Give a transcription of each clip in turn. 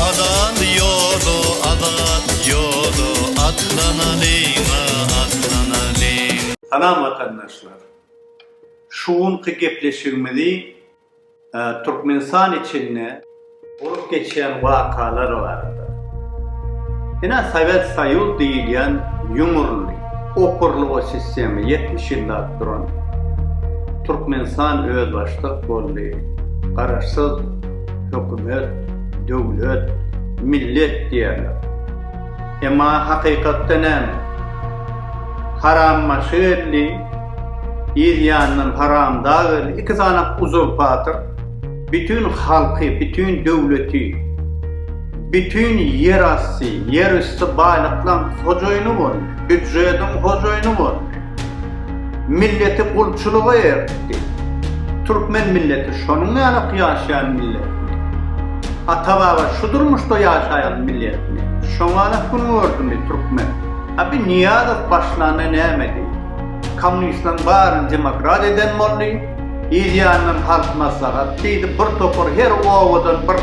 Azat ýoly, azat ýoly, Atlanalyň-a, atlanalyň. Salam watandaşlar! Şu günki gepleşigimizi Türkmenistan içinde, Bolup geçýän wakalar barada. Ine Sowet Soýuz diýilýän ýumurly, okurlyga sistema ýetmiş ýyllap duran Türkmenistan özbaşdak boldy, garaşsyz hökümet, döwlet, millet diýerler. Emma hakykatda näme? Harambaşy geldi, yz ýandan Haramdag geldi, iki sany uzurpator. Bütin halky, bütin döwleti, bütin ýerasty, ýerüsti baýlyklaň hojaýyny boldy, býudžediň hojaýyny boldy. Milleti gulçulyga eritdi. Türkmen milleti şonuň ýalyk ýaşaýan milletmi? Ata-baba şu durmuşda ýaşaýan milletmi? Şoňalyk gün gördümi türkmen? Abi Nyýazow başlanda nämedi? Kommunistlaň baryny demokrat eden boldy. Ir ýandan halk maslahat diýdi, bir topar her obadan bir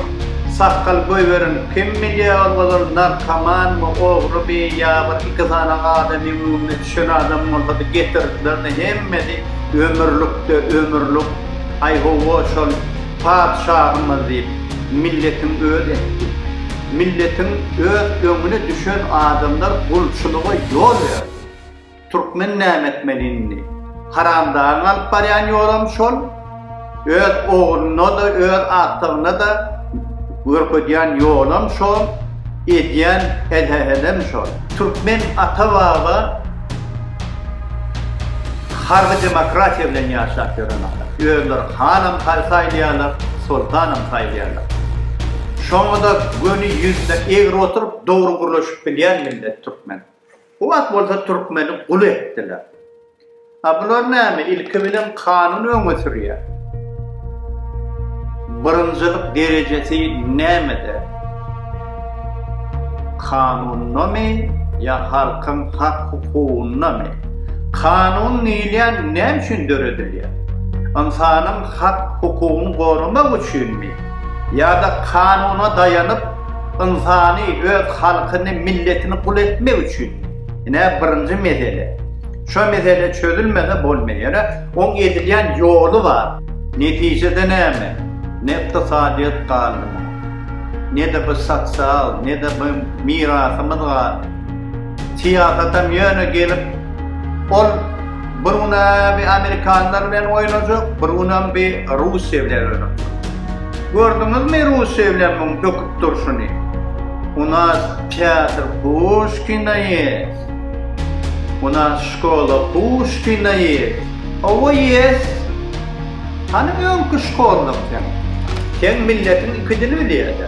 sakgal goýberilip, kim bilýä ol ozal narkomanmy, ogrymy ýa bir iki sany adamyň öňüne düşen adam bolsady getirdilerdi, hemmesi ömürlikde ömürlik, aý howwa şol patyşahymyz diýip, milletiň öz etdi. Milletiň öz öňüne düşen adamlar gulçulyga ýol berdi. Türkmen näme etmeli indi? Haramdagyň alyp barýan ýolam şol, öz ogluna-da, öz agtygyna-da görkezýän ýolam şol, edýän helehelem şol. Türkmen ata-baba harby demokratiýa bilen ýaşap ýören adam. Özleri hanam saýylýarlar, soltanam saýylýarlar. Şoňa-da göni ýüzüne egri oturyp, dogry gürleşip bilýän millet türkmen. Bu wagt bolsa türkmeni gul etdiler. A bular näme, ilki bilen kanuny öňe sürýär. Birinjilik derejesi nämede? Kanunyndamy ýa halkyň hak-hukugynydamy? Kanun diýilýän näme üçin döredilýär? Ynsanyň hak-hukugyny goramak üçinmi? Ýa-da kanuna daýanyp, Ynsany, öz halkyny, milletini gul etmek üçin. Ine, birinji mesele. Şo mesele çözülmese bolmaý. Ýöne oň edilýän ýoly bar. Netijede näme? Ne ykdysadyýet galdy muňa. Ne-de bir sosial, ne-de bir mirasymyz galdy. Syýasatam ýöne gelip, ol. Bir gün bir amerikanlar bilen oýnajak, bir günem bir Russiýa bilen oýnajak. Gördüňizmi Russiýa bilen muň böküp durşuny? U nas teatr Puşkina ýes. U nas şkola Puşkina ýes. Owo ýes. Hany öňki şkolanyň sen? Sen milletiň iki dili bilýäňdä?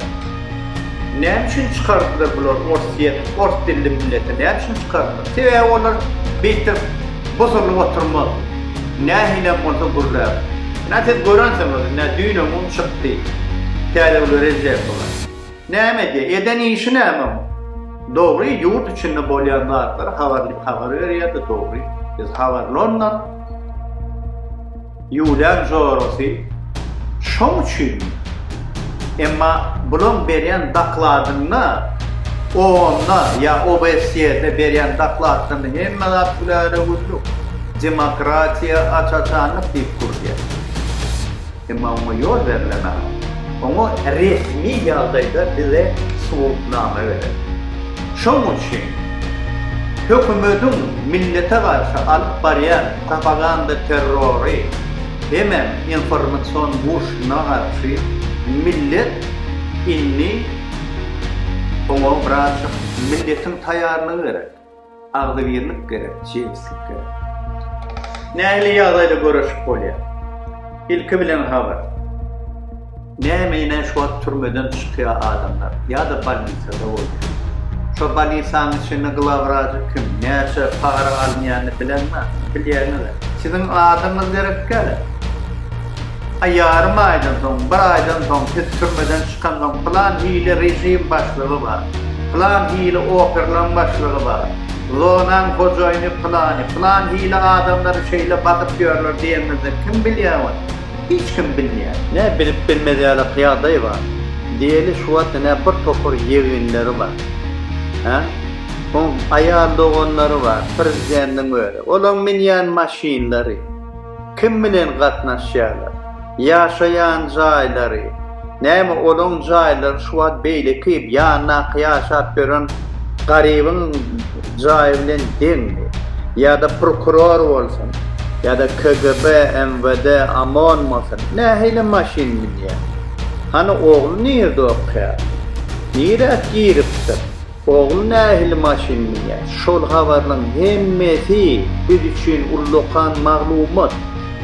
Näme üçin çykardylar bular orsýet ors dilli milleti näme üçin çykardylar sebäbi olar beýtip busulyp oturmaz nähilem bolsa gürläp nä siz görensiňiz nä düýnem un çykdy täzewüle rejep bular näme edýär eden işi näme oň dogry ýurt içinde bolýan zatlary habar habar berýärdi dogry biz habarly ondan. Ýuwlan jorasy şoň üçinmi? Emma bulaň berýän dakladynda OON-da ýa OBSE-de berýän dakladynda hemme zat güläle güllük, demokratiýa, aç-açanlyk diýip gürlýär. Emma oňa ýol berlemän, oňa resmi ýagdaýda bize subutnama beren. Şoň üçin hökümetiň millete garşy alyp barýan Propaganda terrory hemem informasion urşuna garşy millet indi oňa braçak milletiň taýýarlygy gerek. Agzybirlik gerek, jebislik gerek. Nähili ýagdaýda göreşip bolýar? Ilki bilen habar. Nämeyna şu wagt türmeden çykýa adamlar ýada bolnisada bolýa. Şo bolnisaň içinde glawraji kim, näçe para alynýany bilen bar, bilýäňizä. Siziň adyňyz gerekgäle. A ýarym aýdan soň, bir aýdan soň siz türmeden çykansoň plan hili rejim başlygy bar, plan hili operlaň başlygy bar, zonaň hojaýyny plany, plan hili adamlary şeýle basyp ýörler diýeňizde kim bilýä ony. Hiç kim bilmeýär. Nä bilip bilmez ýaly ýagdaý bar. Diýeli şu wagt ine bir topar ýeginleri bar. Hä? Soň aýal doganlary bar, prezidentiň özi. Olaň minýän maşynlary, kim bilen gatnaşýarlar, ýaşaýan jaýlary. Näme olaň jaýlary şu wagt beýleki ýandaky ýaşap ýören garybyň jaýy bilen deňmi? Ýa-da prokuror bolsun, ýa-da KGB, MWD, OMON bolsun, nähili maşyn münýär? Hany ogly nirde okaýar? Nirä giripdir? Oglum nähili maşyn minýär? Şol habarlaň hemmesi biz üçin ullakan maglumat.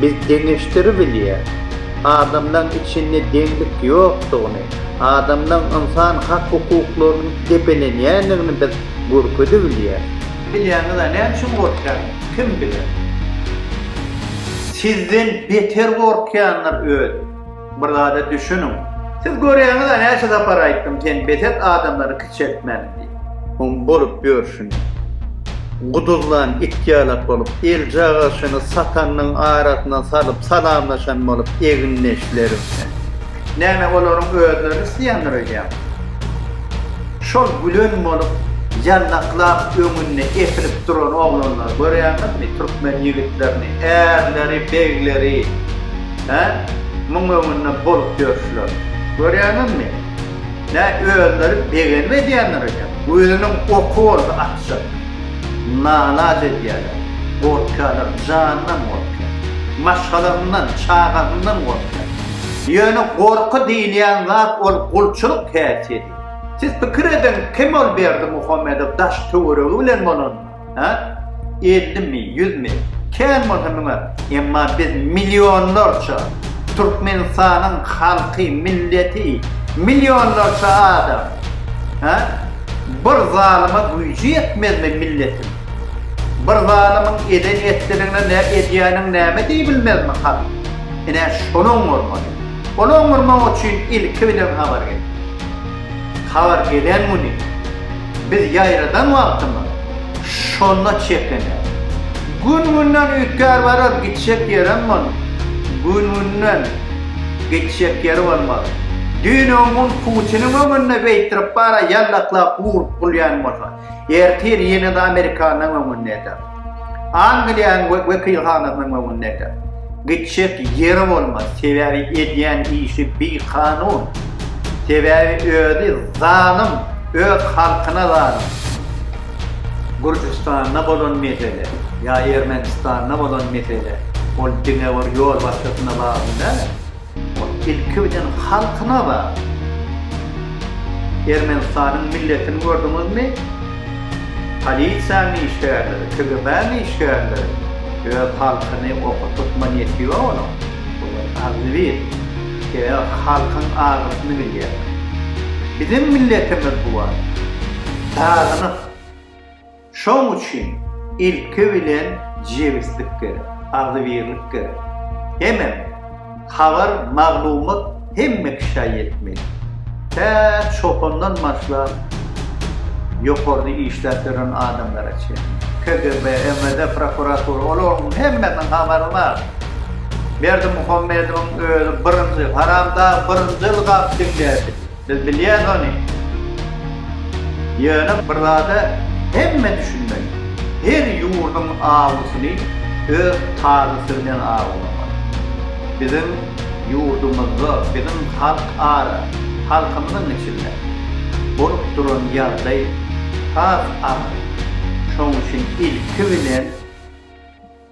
Biz deňeşdiribilýär. Adamlaň içinde deňlik ýokdugyny, adamlaň ynsan hak hukuklarynyň depelenýändigini biz görkezibilýär. Bilýäňiz-ä näme üçin gorkýan? Kim biler? Sizden beter gorkýandyr özi. Bir zada düşüniň. Siz görýäňiz-ä näçe sapar aýtdym sen bes et adamlary kiçeltmäni diýip. Oň bolup ýörşüni. Guduzlan it ýalak bolup elcagaşyny satanynyň arasyna salyp salamlaşan bolup egindeşlerim sen. Näme olaryň özleri isleýändir öýdýäň. Şol gülen bolup ýandaklap öňünde epilip duran oglanlary görýäňizmi türkmen ýigitlerini ärleri begleri. Hä? Muň öňünden bolup ýörşüler. Görýäňizmi? Nä özleri begenip edýänler eken? Özüniň oky bolsa atjak. Nalaç edýäler. Gorkýarlar, janyndan gorkýar. Maşgalasyndan, çagasyndan gorkýar. Ýöne gorky diýilýän zat ol gulçulyk häsiýeti. Siz pikir ediň, kim ol Berdimuhamedow daş-töweregi bilen bolanlar? Hä? Ellimi, ýüzmi? Kän bolsa müňe, emma biz millionlarça, Türkmenistanyň halky, milleti, millionlarça adam. Hä? Bir zalyma güýji ýetmezmi milletiň? Bir zalymyň eden-etdiligine nä edýäniň näme diýibilmezmi halk? Ine, şony oňarmaly. Ony oňarmak üçin ilki bilen habar gerek. Habar gelen güni. Biz ýaradan wagtymyz şonda çekene. Gün-günden üýtgär barar, gitjek ýerem bolmaz. Gün-günden geçjek ýer bolmaz. Düýn öňňun Putiniň öňünde beýtdirip bara ýallaklap urup gulýan bolsa, ertir ýene-de Amerikanyň öňünde eder. Angliýanyň wekilhanasynyň öňündäkä gitjek ýeri bolmaz, sebäbi edýän işi bikanun, sebäbi özi zalym, öz halkyna zalym. Gürjüstanda bolan mesele ýa Ermenistanda bolan mesele ol diňe bir ýolbaşçysyna bagly däl. O tilki bilen halkyna bar. Ermenistanyň milletini gördüňizmi? Polisiýanyň işgärleri, KGB-niň işgärleri öz halkyny oka tutma niýeti ýok olaň. Olar agzybir. Sebäbi halkyň agyrysyny bilýärler. Biziň milletimiz bu wagt sagynyp. Şoň üçin ilki bilen jebislik gerek, agzybirlik gerek. Hemem, habar, maglumat hemme kişä ýetmeli. Tä çopandan başlap, ýokarda işläp ýören adamlara çenli. KGB, MVD, prokuratura, olaryň hemmesiniň habary bar. Berdimuhamedowyň özi birinji, haramdag birinji ylgap diňläpdi. Biz bilýäs ony. Ýöne bir zada hemme düşünmeli, her ýurduň awysyny öz talysy bilen awlamaly. Biziň ýurdumyzda, biziň halk ara, halkymyzyň içinde bolup duran ýagdaý has agyr. Şonuň üçin ilki bilen.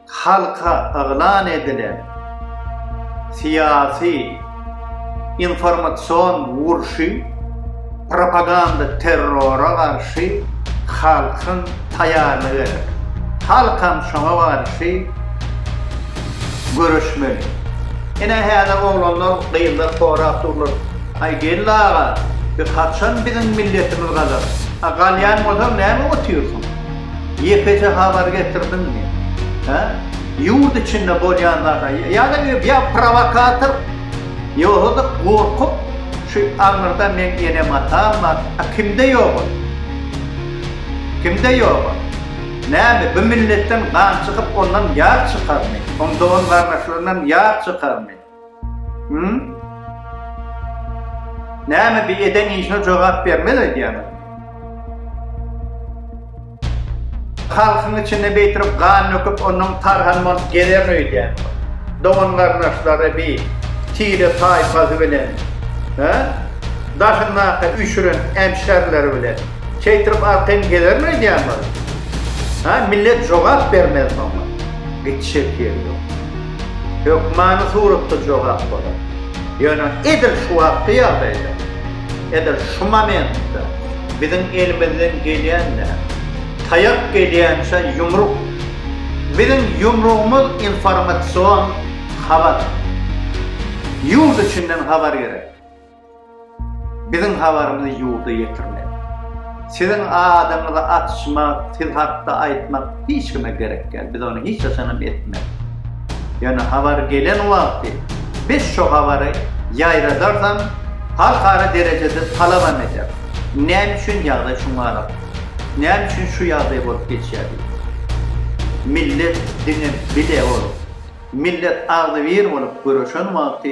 halka yglan edilen syýasy informasion urşy propaganda terrora garşy halkyň taýarlygy gerek. Halkam şoňa garşy göreşmeli. Ine häzir oglanlar gyzlar sorap durlar. Aý geldi aga biz haçan biziň milletimiz galar. A galýan bolsaň näme otyrsyň. Ýekeje habar getirdiňmi? Hä? Ýurt içinde bolýan zada ýa-da ýa prowokator, ýogsa-da gorkup, şu aňyrda meň enem-atam bar, a kimde ýok ol? Kimde ýok ol? Näme, bu milletden gan çykyp, ondan ýar çykarmy? Oň dogan-gardaşlaryndan ýar çykarmy? Hum? Näme bir eden işine jogap bermez öýdýäňiz? Halkyň içinde beýtirip gan döküp onuň tarhan bolup gezer öýdýän. Dogan garnaşlary bi tire taýpasy bilen. Hä? Daşynda üşüren emşerleri bilen. Çeýtirip arkaýyn gezer öýdýäňiz? Hä? Millet jogap bermez muňa. Gitşek ýeri ýok. Hökmany suratda jogap bolar. Ýöne edil şu wagtky ýagdaýda, edil şu momentde biziň elimizden gelýän näme? Taýak gelýänçä ýumruk. Biziň ýumrugymyz informasion habar. Ýurt içinden habar gerek. Biziň habarymyzy ýurda ýetirmek. Siziň adyňyzy açmak, siz hakda aýtmak hiç kime gerek däl. Biz ony hiç haçanam etmeris. Ýöne habar gelen wagty biz şo habary ýaýradardan halkara derejede talabam ederis. Näme üçin ýagdaý şuňa gabat? Näme üçin şu ýagdaý bolup geçýär diýip. Millet diňe bile bolup, millet agzybir bolup göreşen wagty